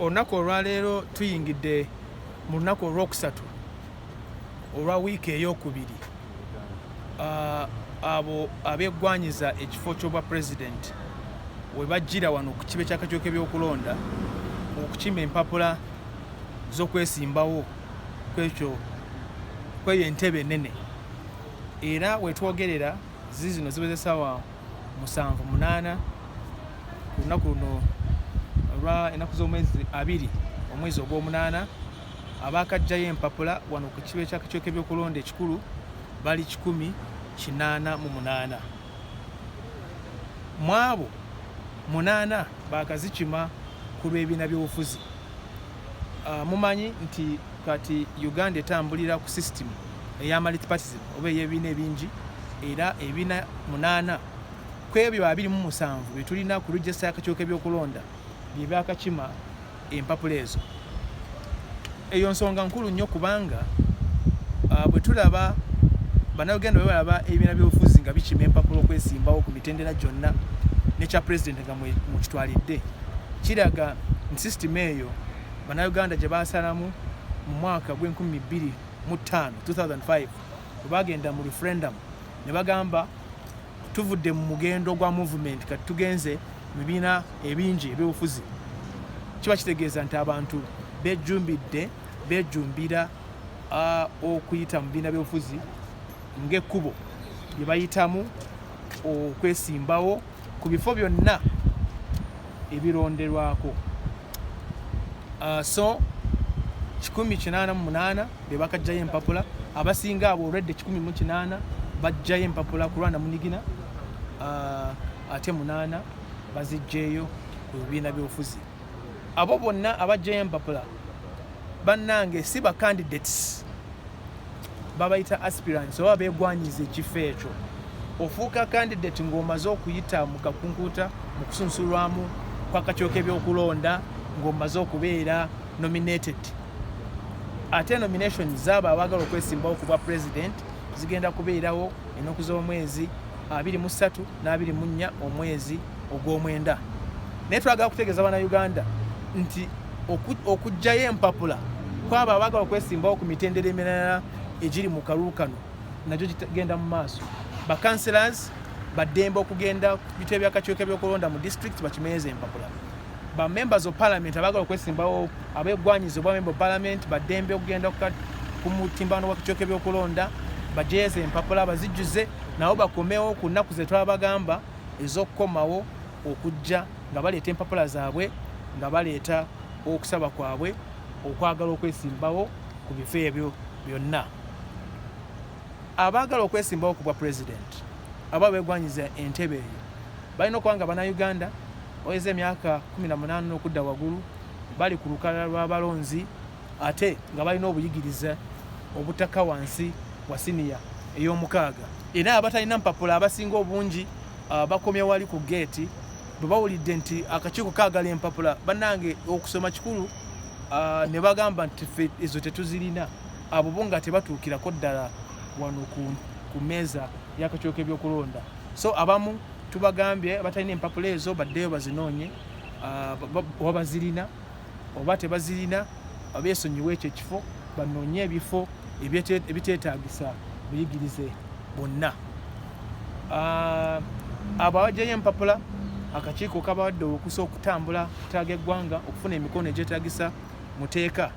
olunaku olwaleero tuyingidde mu lunaku olwokusatu olwa wiiki eyokubiri ah, abo abegwanyiza ekifo kyobwa pulezidenti we bajjira wano ku kibe kyakakiiko kebyokulonda okukima empapula z'okwesimbawo kwekyo kweyo entebe enene era wetwogerera zizino ziwezesaawa musanvu munaana ku lunaku luno olwa ennaku z'omwezi abiri omwezi ogw'omunaana abaakajjayo empapula wano ku kiba ekyakakyoka ebyokulonda ekikulu bali kikumi kinaana mu munaana mu abo munaana baakazikima ku lw'ebiina by'obufuzi Uh, mumanyi nti kati Uganda etambulira ku system eya multipartism oba eyebiina ebingi era ebiina munaana kwebyo abiri mu musanvu byetulina ku register yakakyoka ebyokulonda byebyakakima empapula ezo eyo nsonga nkulu nnyo kubanga uh, bwe tulaba banauganda bwe balaba ebibiina byobufuzi nga bikima empapula okwesimbawo ku mitendera gyonna nekya pulezidenti nga mukitwalidde kiraga nti sisitimu eyo Bannayuganda gye baasalamu mu mwaka gw'enkumi bbiri mu ttaano 2005 bwe baagenda mu referendum ne bagamba tuvudde mu mugendo gwa movement kati tugenze mu bibiina ebingi ebyobufuzi kiba kitegeeza nti abantu bejjumbidde bejjumbira okuyita mu bibiina byobufuzi ng'ekkubo lye bayitamu okwesimbawo ku bifo byonna ebironderwako uh, so 188 bebakajjayo empapula abasinga abo olwedde 18 bajjayo empapula ku lwanda munigina uh, ate munaana bazijjeeyo ku bibiina byobufuzi abo bonna abajjayo empapula bannange si bacandidates babayita aspirants oba begwanyiza ekifo ekyo ofuuka candidate ng'omaze okuyita mu kakunkuta mu kusunsulwamu kwakakyoka ebyokulonda ng'omaze okubeera nominated ate nomination zaabo abaagala okwesimbawo ku bwa president zigenda kubeerawo ennaku z'omwezi abiri mu ssatu n'abiri mu nnya omwezi ogw'omwenda naye twagala kutegeeza bana uganda nti okujjayo empapula kwabo abagala okwesimbawo ku mitendera emirala egiri mu kalulu kano nagyo gigenda mu maaso bakanselors baddembe okugenda ku bitebe byakakiiko ebyokulonda mu disitulikiti bakimenyeza empapula ba members of parliament abagala okwesimbawo abegwanyiza obwa member of parliament badembe okugenda ku mutimbano wakityoka ebyokulonda bajeeze empapula bazijjuze nabo bakomewo ku nnaku zetwabagamba ezokukomawo okujja nga baleeta empapula zaabwe nga baleeta okusaba kwabwe okwagala okwesimbawo ku bifo ebyo byonna abaagala okwesimbawo ku bwa pulezidenti aba begwanyiza entebe eyo balina okuba nga banauganda oyeza emyaka 18 n'okudda wagulu bali ku lukalala lw'abalonzi ate nga balina obuyigirize obutaka wansi wa siniya ey'omukaaga era abatalina mpapula abasinga obungi uh, bakomya wali ku geeti bwe bawulidde nti akakiiko kaagala empapula bannange okusoma kikulu uh, ne bagamba nti fe ezo tetuzirina abo bo nga tebatuukirako ddala wano ku meeza y'akakiiko k'ebyokulonda so abamu tubagambye batalina empapula ezo baddeyo bazinoonye uh, oba bazirina oba tebazirina beesonyiwe ekyo ekifo banoonye ebifo ebiteetaagisa buyigirize bonna ah, abo abajjayo empapula akakiiko kabawadde okusa okutambula kutaaga eggwanga okufuna emikono egyetaagisa muteeka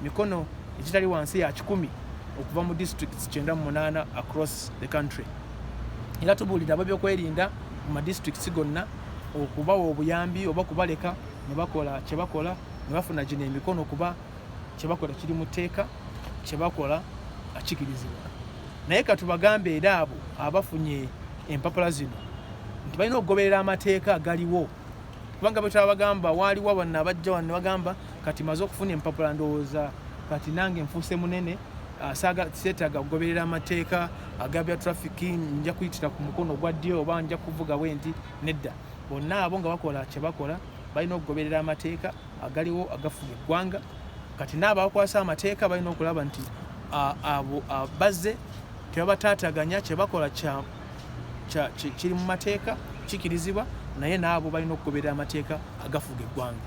mikono egitali wansi ya kikumi okuva mu districts kyenda mu munaana across the country era tubuulira ababyokwerinda mu madistricts gonna okubawa obuyambi oba kubaleka ne bakola kye bakola ne bafuna gino emikono kuba kye bakola kiri mu tteeka kye bakola akikirizibwa naye katubagambe era abo abafunye empapula zino nti balina okugoberera amateeka agaliwo kubanga betwala bagamba waaliwo abanna abajja wano ne bagamba kati maze okufuna empapula ndowooza kati nange nfuuse munene Ah, seetaaga kugoberera amateeka agabya traffic nja kuyitira ku mukono ogwa ddyo oba nja kuvuga bwenti nedda bonna abo nga bakola kyebakola balina okugoberera amateeka agaliwo agafuga eggwanga kati naabakwasa amateeka balina okulaba nti abo bazze tebabataataganya kyebakola kiri mu mateeka kikirizibwa naye naabo balina okugoberera amateeka agafuga eggwanga